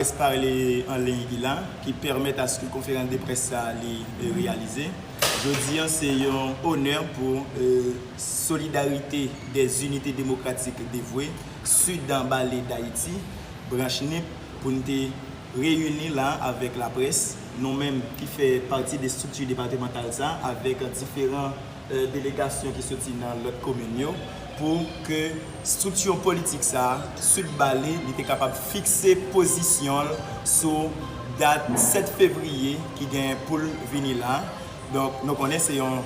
Près pale an liy ki la, ki pèmèt aske konferans de près sa li reyalize. Jodi an se yon onè pou Solidarite dè Zinite Demokratik Devwe, Sudan Bale Dayiti, branch nip, pou n te reyini la avèk laprès, nou menm ki fè pati de estrikti depatemantal sa, avèk diferan. delegasyon ki soti nan lòt komin yo pou ke striksyon politik sa a sot ba li, li te kapab fikse pozisyon l sou dat 7 fevriye ki gen pou l vini la. Donk nou konnen se yon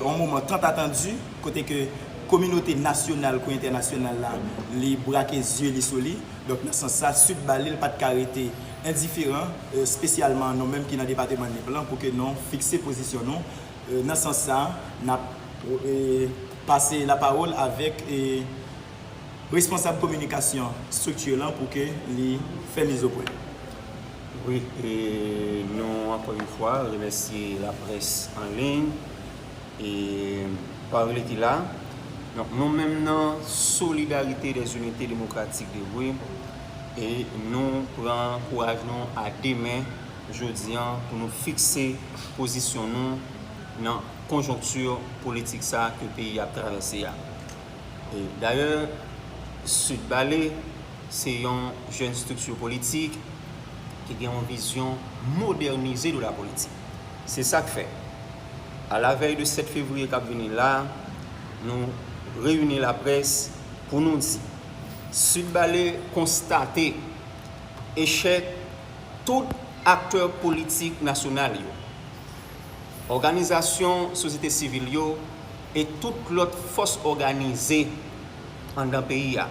moman tant attendu kote ke kominote nasyonal kou entènasyonal la li brake zye li sou li. Donk nan sans sa sot ba li l pa t ka rete endiferan espesyalman nou menm ki nan depateman Nip lan pou ke nou fikse pozisyon nou. Nan sans sa, n ap pase lapawòl avèk responsab kominikasyon strikti lan pou ke li fè mizopwen. Wi, nou ankò yon fwa remèsye laprès an liy e pawoli ki la. Donk nou menm nan Solidarite des Unites Democratiques de Rue, nou pran kouraj nou a 2 men, jodi an pou nou fikse pozisyon nou nan konjonkti politik sa a ke peyi a ap travèse a. Dayè, Sud Bale se yon jèn strikti politik ki gen yon vizyon modènize de la politik. Se sa k fè, a la vèy de 7 fevriye k ap vini la, nou reyini laprès pou nou di, Sud Bale konstate echèk, Tout aktè politik nasyonal yo, òganizasyon sosyete sivil yo e tout lòt fòs òganize anndan peyi a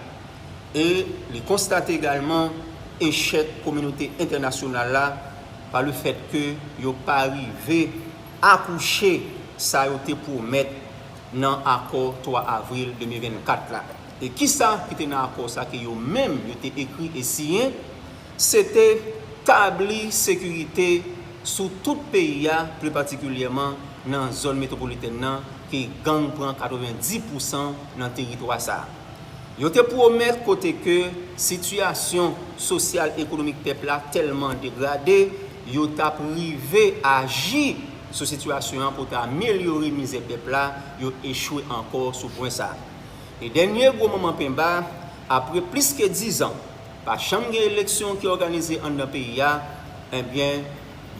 e li konstate egalman echèk kominote entènasyonal la pa le fèt ke yo pa rive akouche sa yo te pwomèt nan akò 3 avril 2024 la. E kisa ki te nan akò sa ke yo menm yo te ekri e siyen? Se te tabli sekirite sou tout peyi a, pli patikilyèman nan zòn metwopolitèn nan ke gang pran 90 pousan nan teritwa sa. Yo te pwomèt kote ke sitiyasyon sosyal-ekonomik pèp la tèlman degrade, yo t ap rive aji sou sitiyasyon an pou ta amelyore mizè pèp la, yo echwe ankò sou pwen sa. E dènye gwo moman penba, apre plis ke dizan, Pa janm gen eleksyon ki òganize anndan peyi a, enbyen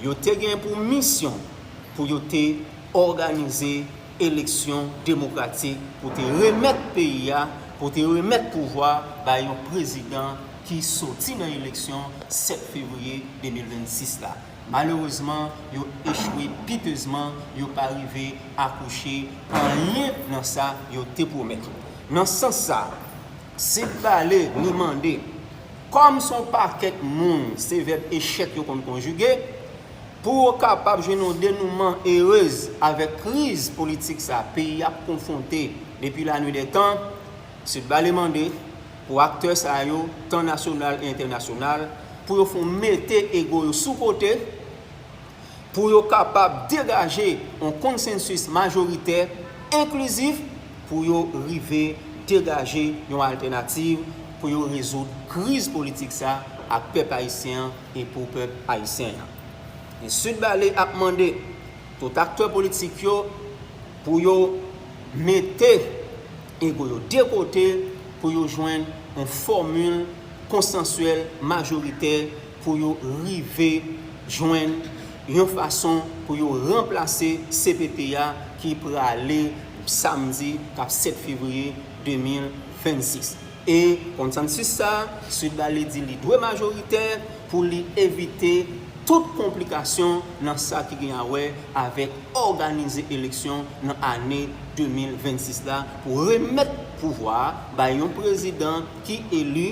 yo te gen pou misyon pou yo te òganize eleksyon demokratik pou te remèt peyi a, pou te remèt pouvwa bay yon prezidan ki soti nan eleksyon 7 fevriye 2026 la. Malerezman, yo echwe pitezman, yo pa rive akouche anyen nan sa yo te pwomèt. Nan sans sa. Senp pale, nou mande. Kòm se yon pakèt moun se vèb echèk yo konn konjige, pou yo kapab jwenn yon denouman erez avèk kriz politik sa peyi ap konfwonte depi lanwidètan, Sudbale mande pou aktè sa yo, tan nasyonal e entènasyonal, pou yo fon mete ego yo sou kote, pou yo kapab degaje yon konsensis majoritè enklizif pou yo rive degaje yon altènativ pou yo rezoud kriz politik sa ak pèp ayisyen an e pou pèp ayisyen an. E Sud Bale ap mande tout aktè politik yo pou yo mete ego yo de kote pou yo jwenn yon fòmil konsansyèl majoritè pou yo rive jwenn yon fason pou yo ranplase cpt a ki prale samdi k ap 7 fevriye 2026. E konsansis sa a, Sud Bale di li dwe majoritè pou li evite tout konplikasyon nan sa ki gen a wè avèk òganize eleksyon nan ane 2026 la pou remèt pouvwa a bay yon prezidan ki eli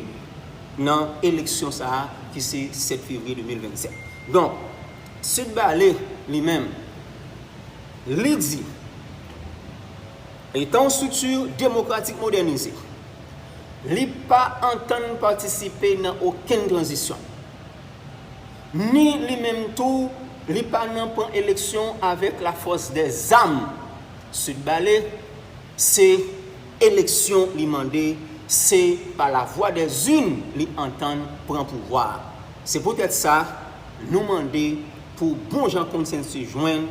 nan eleksyon sa a ki se 7 fevriye 2027. Donk, Sud Bale li menm, li di, Etan yon strikti demokratik modènize, li pa antann patisipe nan okenn tranzisyon. Ni li menm tou, li pa nan pran eleksyon avèk lafòs dè zam. Sud Bale se. Eleksyon li mande, se pa la vwa dè zin li antann pran pouvwa a. Se poutèt sa, nou mande pou bon jan konsensis jwenn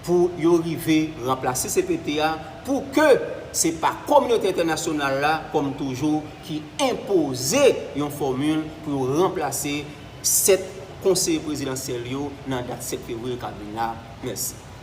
pou yo rive ranplase cpt a pou ke se pa kominote entènasyonal la, kòm toujou, ki enpoze yon fòmil pou yo ranplase 7 konseye prezidansyèl yo nan dat 7 fevriye kap vin la. Mèsi.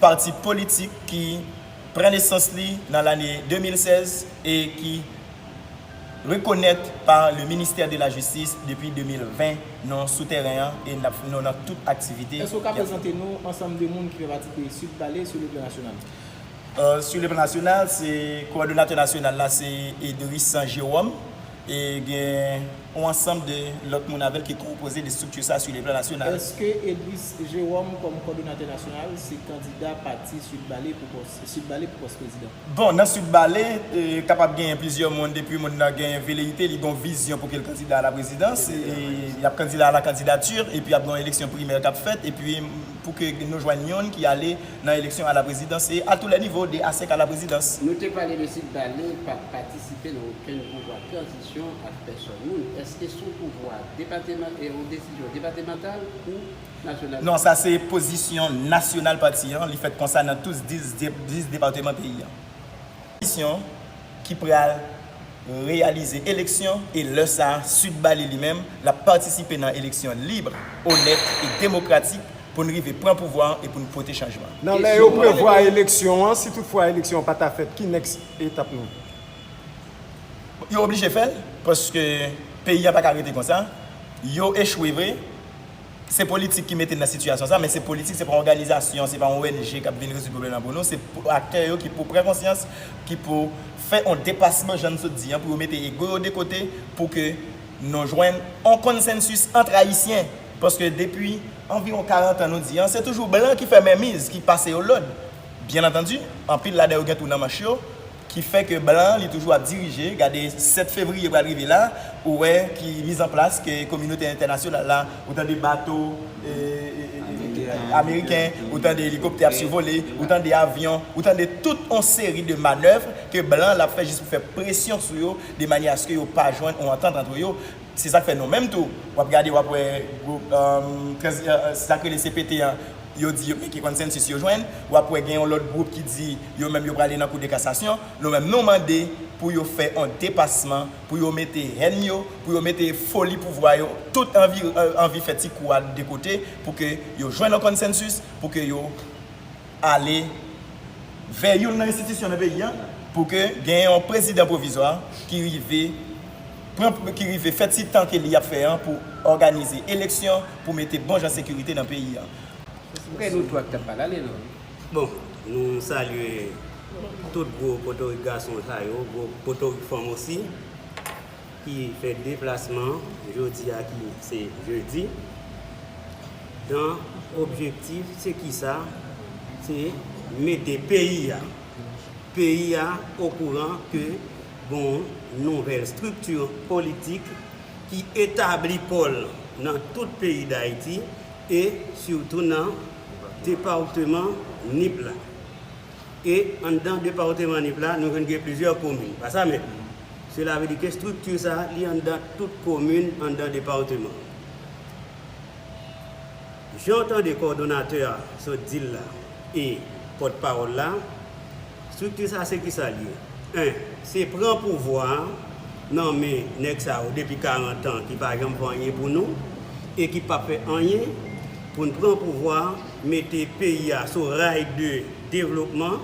Pati politik ki pran nesans li nan lane 2016 e ki rekonèt pa le ministè de la jistis depi 2020, nou sou tèren an e nap nou nan tout aktivite. Èske ou ka prezante nou ansanm de moun ki fè pati de Sud Valley sou le plan nasyonal? Sou le plan nasyonal se kowòdonatè nasyonal la se Edrissan Jérôme E gen yon ansanm de lòt moun avè l ki konpoze de estrikti sa a sou le plan nasyonal. Èske Edris Jérôme kòm kòdonatè nasyonal se kandida pati Sud Bale pou pòs Sud Bale pou pòs prezidan? Bon, nan Sud Bale, kapab genyen plizyè moun depi moun nan gen veleyite, li gen yon vizyon pou ke l kandida a la prezidans, y ap kandida a la kandidati, epi ap gen yon eleksyon primè k ap fèt, epi pou ke nou jwenn youn ki ale nan eleksyon a la prezidans e a tou lè nivo de a senk a la prezidans. Nou te pale de Sud Bale pa pati. site nan okenn pouvwa tranzisyon ak pèsòn moun. Eske son pouvwa depateman e yon desizyon depatemantal ou nasyonal? Non, sa se pozisyon nasyonal pati an, li fèt konsa nan tous 10 depateman peyi an. Komisyon ki pral reyalize eleksyon e lè sa a Sud Bali li menm l ap patisipe nan eleksyon lib, onèt e demokratik pou n rive pran pouvwa an e pou n pote chanjman. Nan lè yo prevwa eleksyon an, si tout fwa eleksyon an pa ta fèt, ki nèks Etap nou. Yo oblije fèl paske peyi a paka rete konsa. Yo echwe vre. Se politik ki mete n nan sitiyasyon sa men se politik se pa yon òganizasyon, se pa yon ong kap vin rezoud pwoblèm nan pou nou, se aktè yo ki pou pran konsyans, ki pou fè yon depasman jan n sot di an pou yo mete ego yo de kote pou ke nou jwenn yon konsensis antre ayisyen paske depi anviwon 40 an nou di an se toujou blan ki fè menmiz, ki pase yo lòd. Byen antandi, anpil ladan yo gen tou nan manch yo, ki fè ke blan an li toujou ap dirije, gade 7 fevriye pral rive la, ou wè ki miz an plas ke kominote entènasyonal la, ou tande bato ameriken, ou tande elikoptè ap sivole, ou tande avyon, ou tande tout yon seri de manèv ke blan an lap fè jis pou fè presyon sou yo de manyè aske yo pa jwenn yon antant antre yo, se sak fè nou menm tou wap gade wap wè gwoup sak rele CPT an. yo di yo meke consensus yo jwenn, wap wè gen yon lòt gwoup ki di yo menm yo prale nan kou de kasasyon, nou menm nou mande pou yo fè yon depasman, pou yo mete hèn yo, pou yo mete foli pouvwa yo, tout anvi anvi fè ti kou a de kote pou ke yo jwenn yon consensus, pou ke yo ale vè youn nan enstitisyon nan peyi a, pou ke gen yon prezidan pwovizwa ki rive. pran pou ki rive fè ti tan ke li ap fè an pou òganize eleksyon pou mete bon jan sekirite nan peyi an. Bon, nou salye tout gwo potorik gason sa yo, gwo potorik fanm osi ki fè deplasman jodi a ki se jedi dan objektif se ki sa? Se mete peyi a, peyi a okouran ke Bon nouvèl strikti politik ki etabli kò l nan tout peyi Dayiti e sitou nan departeman Nip la. E anndan departeman Nip la nou jwenn gen plizyè komin. Pa sa menm? Sela vle di ke strikti sa a li anndan tout komin anndan departeman an. Jan w tande kòdonatè a sot di l la e pòtpawòl la, Strikti sa se kisa l ye? 1. Se pran pouvwa a nan men nèg sa yo depi 40 an ki pa janm fè anyen pou nou e ki pap fè anyen pou n pran pouvwa a mete peyi a sou ray de devlopman.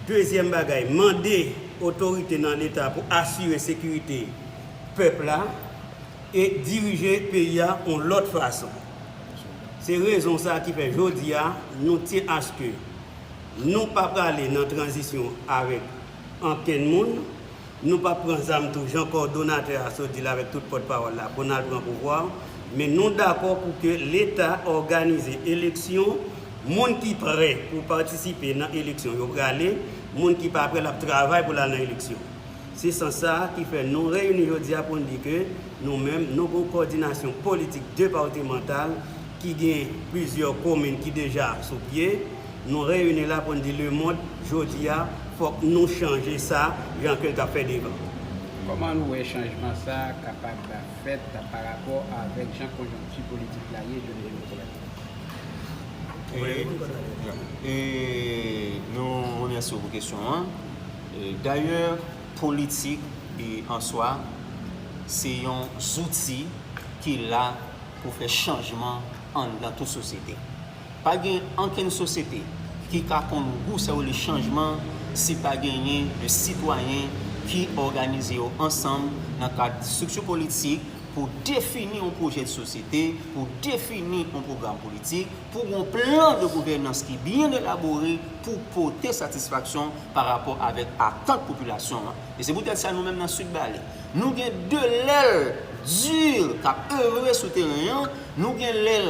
Dezyèm bagay, mande otorite nan leta pou asire sekirite pèp la e dirije peyi a yon lòt fason. Se rezon sa ki fè jodi a nou tyen aske. Nou pa prale nan tranzisyon avèk ankenn moun, nou pap pran zam tou jan kòdonatè a sot di l avèk tout pòt pawòl la pou n al pran pouvwa an, men nou dakò pou ke leta òganize eleksyon, moun ki prè pou patisipe nan eleksyon yo prale, moun ki pa prè l ap travay pou l al nan eleksyon. Se sans sa a ki fè nou reyini jodi a pou n di ke nou menm nou gon kòdinasyon politik depawtemantal ki gen plizyè komin ki deja sou pye, Nou reyini la pou n di lemond jodi a fòk nou chanje sa jan ke l ka fè devan. Kòman nou wè chanjman sa a kapab fèt parapò avèk jan konjonkti politik la ye jounen jodi a? Nou remèsye w pou kesyon an. Dayè, politik an swa se yon zouti ki la pou fè chanjman anndan tout sosyete. Pa gen ankenn sosyete ki ka konn gou sa yo rele chanjman si pa genyen de sitwayen ki òganize yo ansanm nan kad strikti politik pou defini yon pwojè de sosyete, pou defini yon pwogram politik, pou gen yon plan de gouvènans ki byen elabore pou pote satisfaksyon pa rapò avèk atant popilasyon an. E se poutèt sa nou menm nan Sid Bale, nou gen 2 lèl dur k ap evre sou teren an, nou gen lèl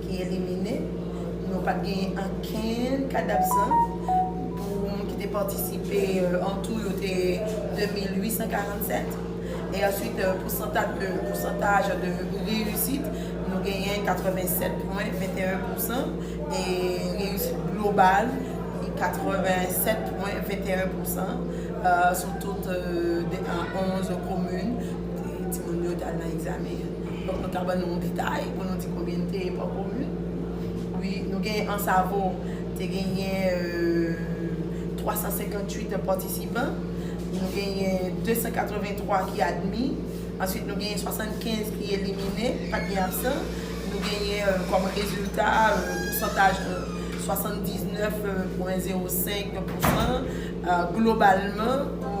ki elimine, nou pat genyen ankenn kad absan pou moun ki te patisipe, an tou yo te 2847 e answit pousantaj de reyisit nou genyen 87,21 pousan e reyisit global li 87,21 pousan sou tout 11 komin kote timoun yo t al nan egzamen an. Fòk nou ta ban nou yon detay pou nou di konbyen n te pa komin. Wi, nou gen Ansavo te genyen 358 patisipan. Nou genyen 283 ki admi. Answit nou genyen 75 ki elimine, pat gen absan. Nou genyen kòm rezilta pousantaj 79,05 pousan globalman pou.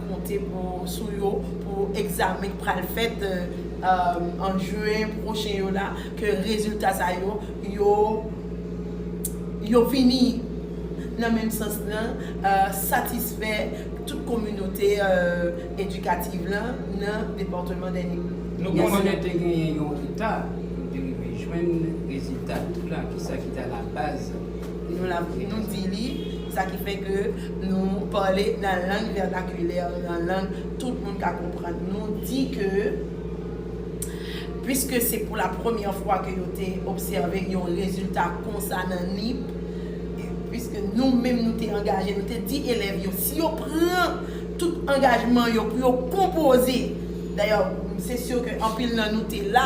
konte sou yo pou egzamen k pral fèt an juin pwochen yo la ke rezilta sa yo yo vini nan menm sans lan satisfè tout kominote edikativ lan nan depatman dènye. Nou konnen te genyen yon reta pou te rive jwenn rezilta tout lan kisa ki ta labaz Nou la pou nou di li, sa ki fè ke nou pale nan lang vènakilè, nan lang tout moun ka konprann. Nou di ke, pwiske se pou la premyè fwa ke yo te obsève yon rezilta konsa nan Nip, pwiske nou menm nou te angaje, nou te di elèv yo, si yo pran tout angajman yo pou yo konpoze, dayè, se sur ke anpil nan nou te la,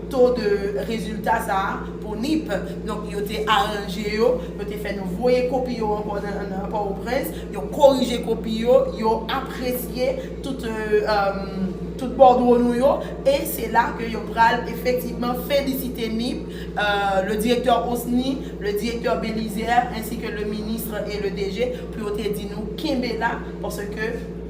to de rezilta sa a pou nip. Donk yo te aranje yo, yo te fè nou voye kopi yo ankò nan Pòtoprens, yo korije kopi yo, yo apresye tout tout bòdwo nou yo e se la ke yo pral efektivman felisite nip, le direktè Osni, le direktè Belizaire, ensi ke le ministre et le DG pou yo te di nou kenbe la paske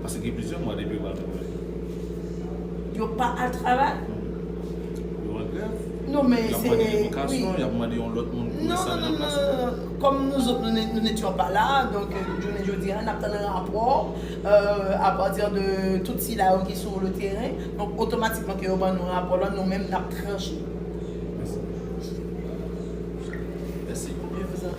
Pase gen plizyè mwa depi yo pa al travay. Yo pa al travay? Yo an grèv. Non men se. Yap mande revokasyon, yap mande yon lòt moun pou enstale nan plas yo. Non, non, non. Kòm nou zòt nou n'etions pas là, donk jounen jodi a n'ap tann rapò a partir de tout sila yo ki sou le terrain. Donk otomatikman ke yo ban nou rapò la, nou menm n'ap tranche. Mèsi. Mèsi.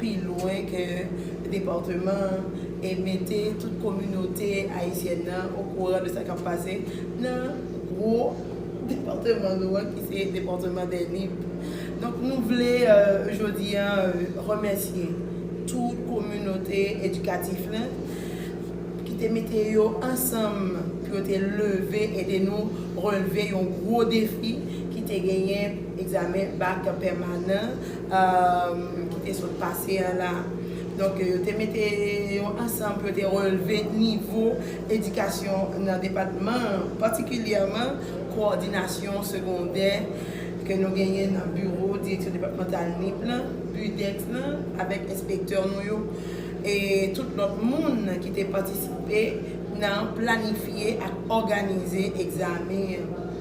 pi lwen ke departeman an e mete tout kominote ayisyèn nan okouran de sa kap pase nan gwo departeman nou an ki se departeman dè Nip. Donk nou vle jodi an remèsye tout kominote edikatif la ki te mete yo ansanm pou yo te leve ede nou relve yon gwo defi ki te genyen egzamen bak pèmanan ki te sot pase a la. Donk yo te mete yon ansanm pou yo te relve nivo edikasyon nan depatman an, patikilyèman kowòdinasyon segondè ke nou genyen nan biwo direksyon depatmantal nip lan, BUDEX lan, avèk enspektè nou yo e tout lòt moun ki te patisipe nan planifye ak òganize egzamen an.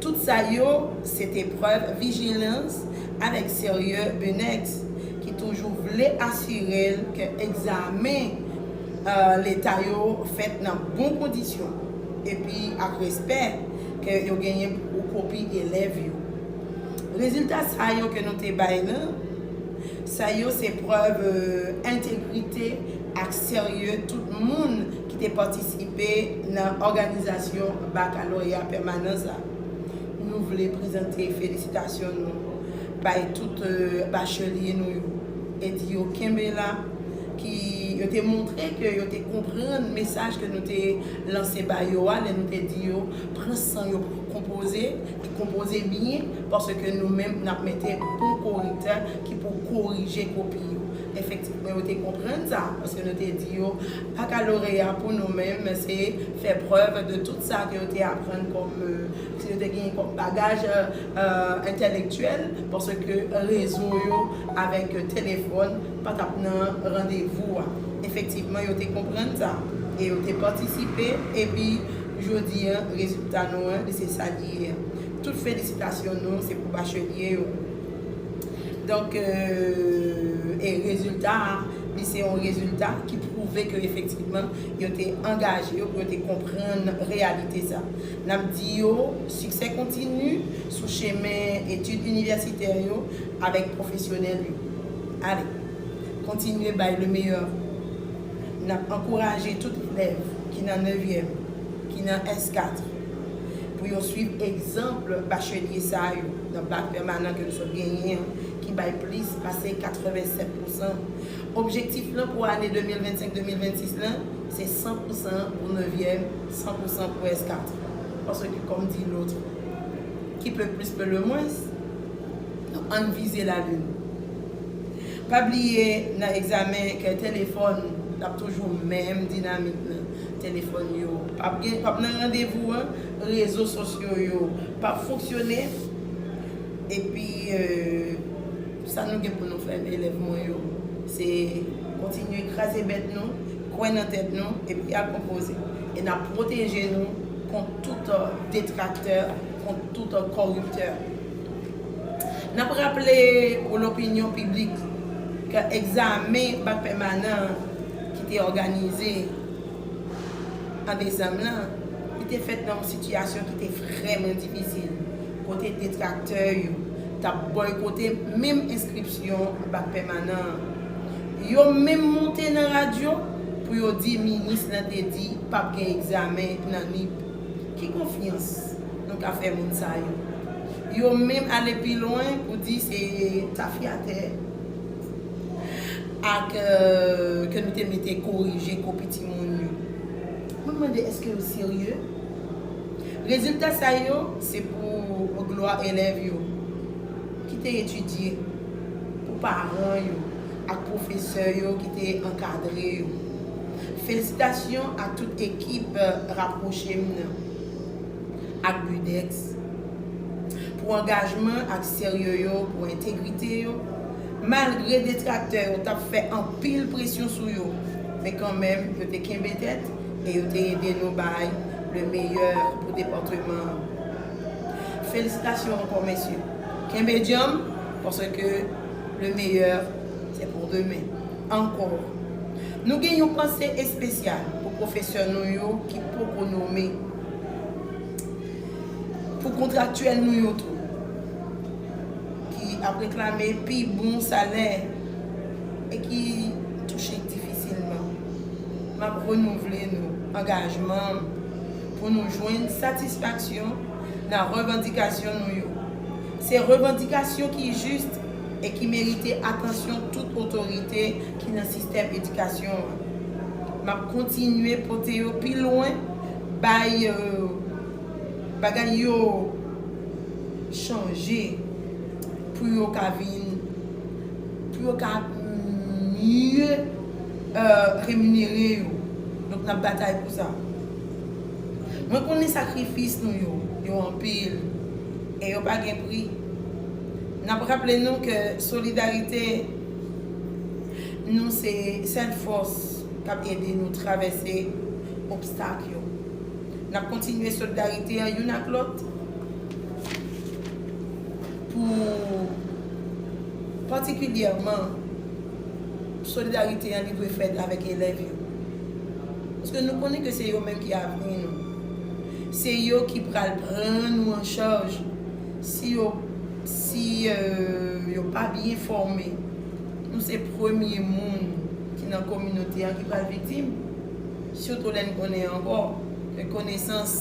Tout sa yo se te prèv vijilans avèk serye Benex ki toujou vle asire l ke egzamen Leta yo fèt nan bon kondisyon epi ak respè ke yo genyen pou kopi elèv yo. Rezilta sa yo ke nou te bay nan sa yo se prèv entegrite ak serye tout moun ki te patisipe nan òganizasyon bakaloreya pèmanans la. Nou vle prezante felisitasyon nou bay tout bachelye nou yo e di yo kenbe la ki yo te montre ke yo te konprann mesaj ke nou te lanse ba yo a lè nou te di yo pran san yo pou yo konpoze e konpoze byen paske nou menm n ap mete bon korektè ki pou korije kopi yo. Efektivman yo te konprann sa paske nou te di yo Bakaloreya pou nou menm se fè prèv de tout sa ke yo te aprann kòm, ke yo te genyen kòm bagaj entèlektyèl, paske rezo yo avèk telefòn pa t ap nan randevou a. Efektivman, yo te konprann sa e yo te patisipe, epi jodi a, rezilta nou an, li se sa li ye. Tout felisitasyon nou se pou bachelye yo. Donk, e rezilta a, li se yon rezilta ki pwouve ke efektivman yo te angaje yo pou yo te konprann reyalite sa. N ap di yo siksè kontini sou chemen etid inivèsitè yo avèk pwofesyonèl yo. Ale, kontinye bay le meilleur a vous. N ap ankouraje tout elèv ki nan nevyèm, ki nan S4, pou yo swiv egzanp bachelye sa yo. nan baz pèmanan ke nou sot genyen an ki bay plis pase 87 pousan. Objektif lan pou ane 2025, 2026 lan se 100 pousan pou nevyèm, 100 pousan pou eskat. Paske kòm di lôt, Qui peut plus peut le moins? Donk ann vize lalin. Pa bliye nan egzamen ke telefòn l ap toujou menm dinamik nan. Telefòn yo pap gen, pap nan randevou an. rezo sosyo yo pap fonksyone epi sa nou gen pou nou fè elèv mwen yo se kontinye kraze bèt nou kwè nan tèt nou epi al konpoze e nap pwoteje nou kont tout detraktè kont tout kòriptè nap raple pou lopinyon piblik ke egzamen bak pèmanan an ki te òganize an desanm lan, li te fèt nan yon sitiyasyon ki te vrèman difisil, kote detraktè yo t ap bòykote menm enskripsyon bak pèmanan an. Yo menm moute nan radyo pou yo di minis lan te di pap gen egzamen nan Nip. Ki konfyans nou ka fè moun sa yo? Yo menm ale pi lwen pou di se tafyatè. Ak ke nou te mete korije kopi timoun yo. Mwen mande eske yo serye? Rezilta sa yo se pou glwa elèv yo ki te etidye, pou paran yo ak pwofesè yo ki te ankadre yo. Felisitasyon ak tout ekip Rapwoche m nan ak BUDEX pou angajman ak serye yo, pou entegrite yo Malgre detraktè yo t ap fè anpil presyon sou yo, men kanmenm yo te kenbe tèt e yo te ede nou bay le meyè pou depatman an. Felisitasyon ankò mesye. Kenbe djanm paske le meyè se pou demen. Ankò, nou gen yon panse espesyal pou pwofesè nou yo ki poko nome, pou kontraktyèl nou yo tou. ki ap reklame pi bon salè e ki touche difisilman, m ap renouvle nou angajman m pou nou jwenn satisfaksyon nan revandikasyon nou yo. Se revandikasyon ki jis e ki merite atansyon tout otorite ki nan sistèm edikasyon an. M ap kontinye pote yo pi lwen bay. Bagay yo chanje pou yo ka vin, pou yo ka mye reminere yo. Donk nap batay pou sa. Mwen konnen sakrifis nou yo, yo anpil e yo pa gen pri. Nap raple nou ke solidarite nou se sèl fòs kap ede nou travèse obstak yo. N ap kontinye solidarite an youn ak lòt pou patikilyèman solidarite an li dwe fèt avèk elèv yo. Paske nou konnen ke se yo menm ki avni nou. Se yo ki pral pran nou an chaj si yo si yo pa byen fòme. Nou se premye moun ki nan kominote an ki pral viktim. Sitou lè n konnen ankò ke konesans,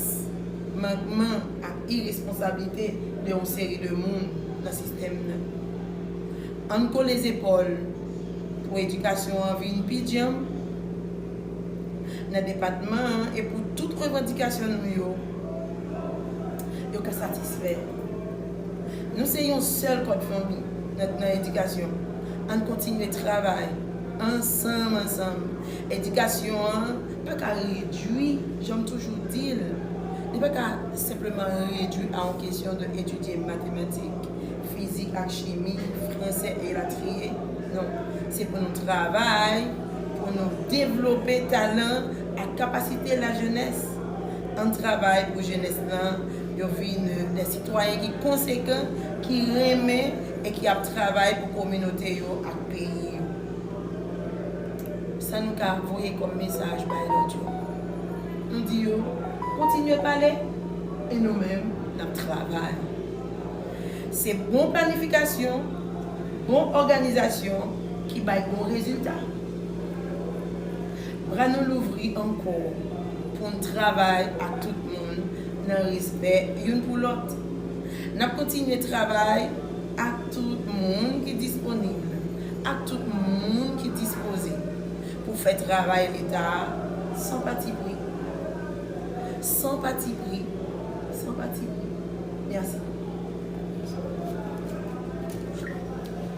mankman ak iresponsablite de yon seri de moun nan sistèm nan. An n kole zepòl pou edikasyon an vin pi djanm nan depatman an e pou tout revandikasyon nou yo, yo ka satisfè. Nou se yon sèl kòd fanmi nan edikasyon. An n kontinye travay ansanm ansanm Edikasyon an pa ka redwi, jan m toujou di l, li pa ka senpleman redwi a yon kesyon de etidye matematik, fizik ak chimi, fransè elatriye. Non, se pou nou travay pou nou devlope talan ak kapasite lajenès. An n travay pou jenès lan yo vin de sitwayen ki konsekan, ki renmen e ki ap travay pou kominote yo ak peyi yo. Sa nou ka voye kòm mesaj bay lòt yo? M di yo, Kontinye pale, e nou menm n ap travay. Se bon planifikasyon, bon òganizasyon ki bay bon rezilta. Bra nou louvri ankò pou n travay ak tout moun nan respè youn pou lòt. N ap kontinye travay ak tout moun ki disponib ak tout moun ki dispoze pou fè travay Leta a san patipri. San patipri. San patipri. Mèsi.